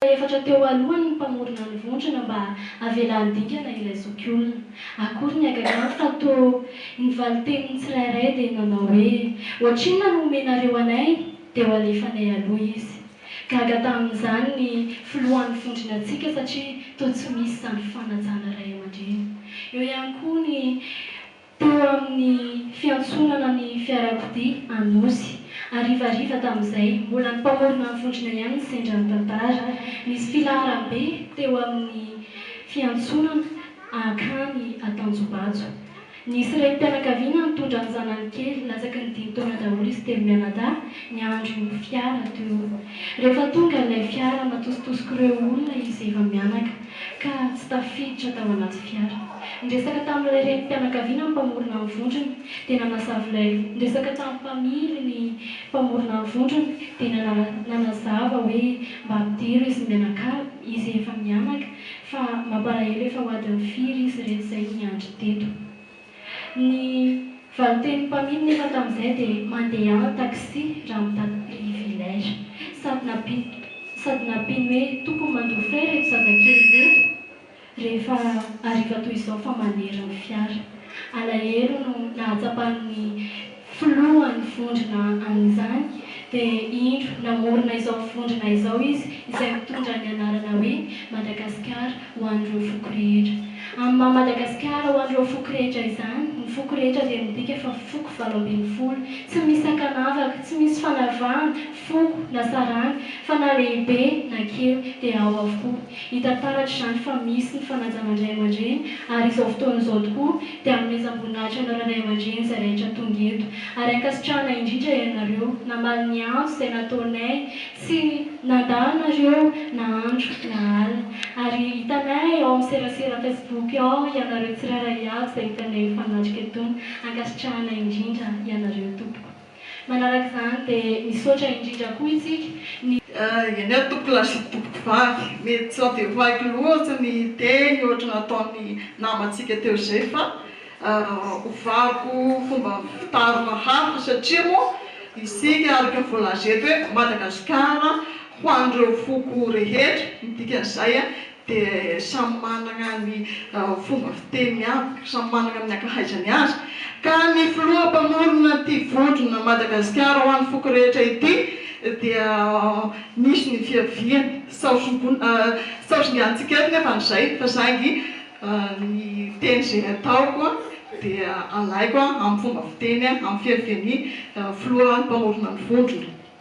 Tapa efatra teo alohany ny mpamorona ny vondrona mba havela handingana ilay zokiolona. Akory ny hagagany fa toa ny valin-tenin'ny tsirairay dia nanao hoe, Ohatrinona no omenareo anay? Dia ho alefanay aloha izy. Gaga tamin'izany ny filohan'ny vondronantsika satria toa tsy misy izany fanajana ray aman-dreny. Eo ihany koa ny. teo amin'ny fiantsonana ny fiarakodia Anosy. Harivariva tamin'izay, mbola ny mpamorona ny vondrona ihany ny sendra ny tantara. Nisy filaharam-be teo amin'ny fiantsonana hankany Antanjobajo. Nisy renim-pianakaviana nitondra ny zanany kely, latsaky ny dimy taona daholo izy telo mianadahy, niandry io fiara teo. Rehefa tonga ilay fiara, natositosiko ireo olona izay efa mianaka. ka tsy tafiditra tao anaty fiara. Niresaka tamin'ilay renim-pianakaviana ny mpamorona ny vondrona, dia nanazava ilay loha. Niresaka tamin'ny mpamily ny mpamorona ny vondrona, dia nanazava hoe mba ampidiro izy mianakavy, izy efa mianaka, fa mampalahelo efa ho adin'ny firy izy ireto izay miandry teto. Ny valin-tenin'ny mpamily nefa tamin'izay dia mandeha en taxi raha mitady privilège. Sady nampiany sady nampiany hoe tokony mandoa frais ireto zazakely ireto rehefa hariva toy izao fa manery ny fiara. Alahelo no nahatsapan'ny. Filohan'ny vondrona amin'izany, dia indro namorona izao vondrona izao izy izay mitondra ny anarana hoe Madagasikara ho an'ireo foko rehetra. Amin'ny maha Madagasikara ho an'ireo foko rehetra izany, ny foko rehetra dia midika fa foko valo ambin'ny folo, tsy misy sakanavaka, tsy misy fanavahana, foko na saranga, fa na lehibe na kely dia ao avokoa. Hita taratra izany fa misy ny fanajana ny ray aman-dreny ary izao fotoana izao tokoa, dia hanomezam-boninahitra anareo ray aman-dreny izay rehetra tonga eto, ary ankasitrahana indrindra ianareo namaly ny antso izay nataonay, tsy nandà anareo na andro na alina, ary hitanay ao amin'ny serasera Facebook ao ianareo tsirairay avy izay hitanay efa miatrika eto, ankasitrahana indrindra ianareo tompoko. Manaraka izany dia misaotra indrindra koa isika ny. Eny ary tompoko lahy sy tompoko vavy, mety tsy havevoaiko loatra ny teny ohatra nataon'ny namantsika teo izay fa hovariko fomba fitarina hafa satria moa isika araka ny voalaza eto hoe Madagasikara ho an'ireo foko rehetra, ny dikan'izay dia samy manana ny fomba fiteny avy, samy manana ny ankahaizany azy, ka ny filoha mpamorona ity vondrona Madagasikara ho an'ny foko rehetra ity dia misy ny fiaviany, saosingantsika eto nefa ny izay fa saingy ny teny izay ataoko dia alaiko amin'ny fomba fiteny amin'ny fiavian'ny filoha mpamorona ny vondrona.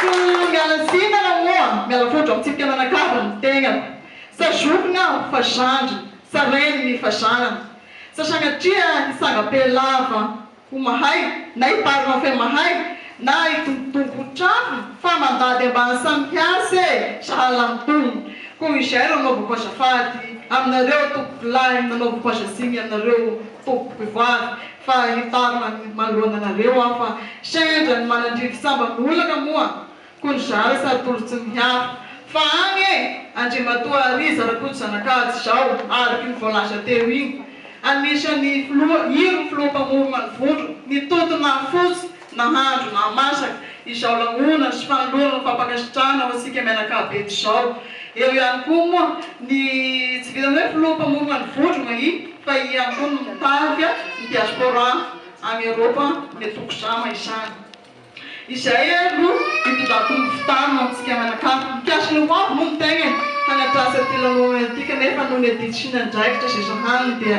Koa miala tsiny ianao moa, miala fondro amintsika mianakavy ny tegnako, sa zokiny aho fa zandriny, sa reniny fa zanany, sa sagnatria hitsanga-pe lava ho mahay, na hiparina fe mahay, na hidombodongo ho trafo fa mandady ambany samy hiasa e, sahala amin'ny tony. Koa izay ro anaovako azafady aminareo tompokolahy, nanaovako aza tsiny aminareo tompokivavy. Fa hitaro manoloana anareo aho fa sendra ny manandrify sambany no olana moa ko ny zara sady tolo tsy miharo fa any e! Andriamatoa Ariza Rakotozanakajy zao arky ny voalaza teo iny anisan'ny filoha iro filoham-pamorona ny vondrona ny tontona fotsy Nahandro nahamasaka izao lanonana sy fanolorana fampankasitrahana ho antsika mianakavy eto izao. Eo ihany koa moa ny tsy vitan'ny hoe filoha mpamorona ny vondrona I fa I ihany koa no mitarika ny diaspora any Eropa ny Toko Zama izany. Izay no itondrako ny fitarina ho antsika mianakavy. Mikasika ny ho avy moa ny tenany hanatrasa ity lanonana ity kanefa noho ny adidy sy ny andraikitra izay sahaniny dia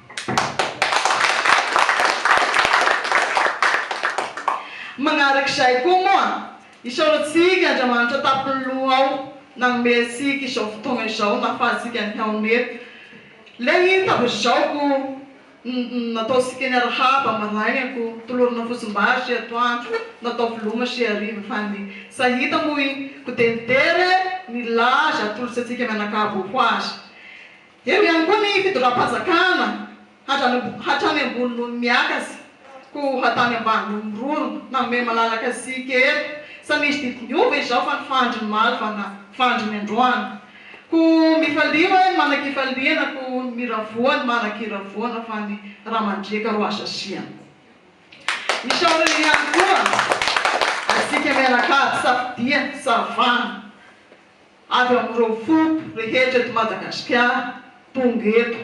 Manarak'izay koa moa, isaorantsika Andriamanitra tampony loha ao nanome antsika izao fotoana izao nahafahantsika nihaona eto. Ilay hymne tafazaoko nataontsika niarahaba maraina koa tolorana fotsim-bary sy atoandro natao veloma sy hariva fa ny sahita moa i Kodemidera nilaza atolotra antsika mianakavy ho azy. Eo ihany koa ny fitondram-panjakana hatrany ambony noho ny miaka sy ko hatany ambany noho ny rony na mey malalaka sy kely sa misy didy miova izao fa ny fandry ny maly fa na fandry ny androany ko mifalia hoe ny manakifaliana ko ny miravoa ny manakiravoana fa ny ra mandriaka ro azo asiana isaorana ihany koa atsika mianakavy safidia savana Avy amin'ireo foko rehetra eto Madagasikara tonga eto.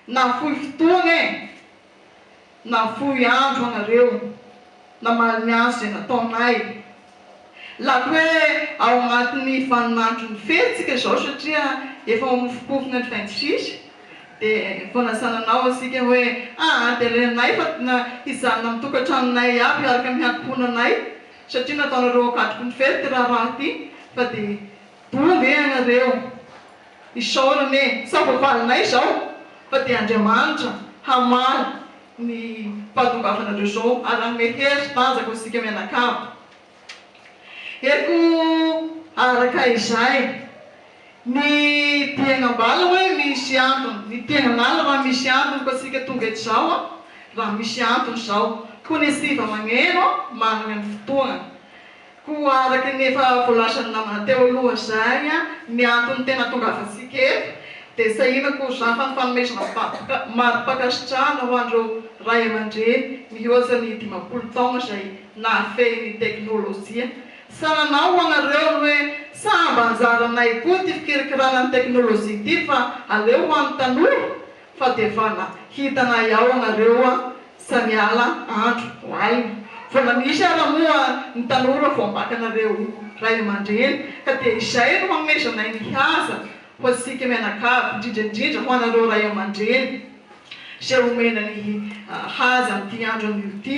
Nafoy fotoana e! Nafoy andro ianareo namaly ny asa izay nataonay. Lako hoe ao anatin'ny vaninandron'ny fety isika izao satria efa mamofompofona ny fin de sisa dia vao nasananao isika hoe ahaterenay fa hijanona amin'ny tokantranonay iaby hiaraka amin'ny ankohonanay. Satria nataonareo akatroko nifehy ity raharaha ity fa dia doa ve ianareo? Isaorana e! Sa voavalinay izao? Fa dia Andriamanitra hamaly ny fahatongavanareo izao ary hanome hery tanjaka ho isika mianakavy. Heriko araka izay. Ny diaina ambala hoe misy antony, ny diaina an'ala raha misy antony koa antsika tonga eto izao a, raha misy antony izao, koa ny hetsika magneno a managna ny fotoagna, koa araka ny efa voalazan'ny namana teo aloha izay a, ny antony tena hatongavantsika eto dia sahina koa izany fa ny fanomezana vakoka mari-pankasitrahana ho an'ireo Ray aman-dreny mihoatra ny dimampolo taogna izay nahafehy ny teknolojia. Sa nanao ho anareo ry hoe sa mba anjaranay koa ity fikirikirana ny teknolojia ity fa aleo ho an'ny tanora? Fa dia vana hitanay ao anareo a! Sa miala andro ho alina? Vona misy ara moa ny tanora vao ambakanareo ray amandreny ka dia izay no hanomezanay ny haza ho antsika mianakavy indrindra indrindra ho anareo ray amandreny izay omena ny haza an'ity andron'io ity.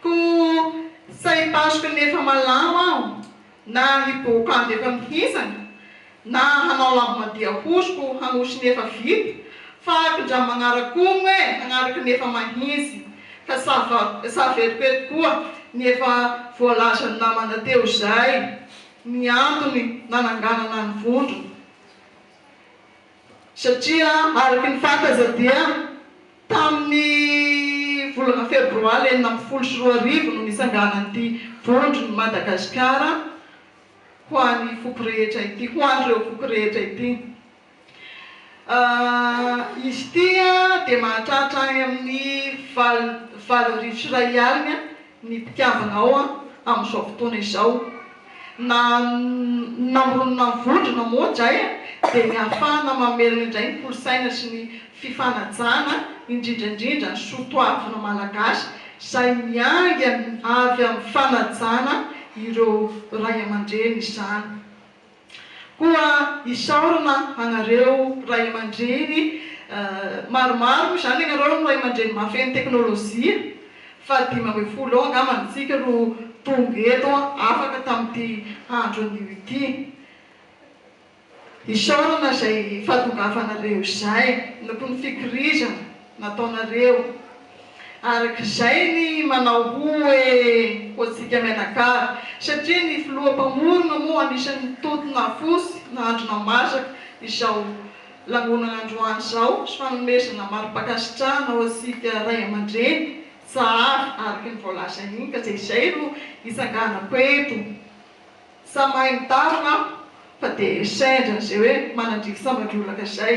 Koa sa hipasoka ny efa malama aho, na hibohoka andro efa mihintsana, na hanao lambadia hosoko hanosy ny efa vita? Fahako ndra magnarakono e hagnaraka ny efa mahintsy, ka sa sa veriko eto koa ny efa voalazan'ny namana teo izay ny antony nananganana ny vondrona? satria araka ny fantatra dia tamin'ny volana febroary enina ambin'ny folo sy roa arivo no nisanganan'ity Vondron'i Madagasikara ho an'ny foko rehetra ity, ho an'ireo foko rehetra ity. Izy ity dia mahatratra any amin'ny valo, valo arivo sy iray alina ny mpitiavanao amin'izao fotoana izao na namoronona ny vondrona moa dray dia ny ahafahana mamelona indray ny kolosaina sy ny fifanajana indrindra indrindra ny soa toavina malagasy izay miainga avy amin'ny fanajana ireo Ray aman-dreny izany. Koa isaorana anareo ray aman-dreny maromaro, izany ianareo no ray aman-dreny mahafeno teknolojia, fahadimy ambin'ny folo eo angamba ny antsika no tonga eto afaka tamin'ity andro anio ity. Isaorana izay fahatongavanareo izay, ny fikirizana, nataonareo araka izay ny manao hoe hoantsika mianakavy satria ny filoha mpamorona moa anisan'ny mitoto nafosy nahandro namasaka izao lanonana androany izao sy fanomezana mari-pankasitrahana ho antsika ray aman-dreny sahary araka ny voalaza iny ka dia izay no itsanganako eto samy mahay mitary manko fa dia sendra izay hoe manandriaka sambandroa laka izay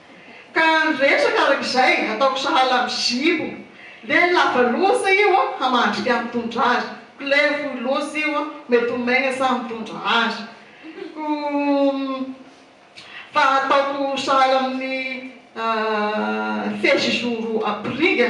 Ka ny resaka araka izay ataoko sahala amin'ny zipo dia ny lava loza io an hamandrika mitondra azy, couleur fohy loza io an mety ho maigna sa mitondra azy ko fa ataoko sahala amin'ny fezizoro ampiriga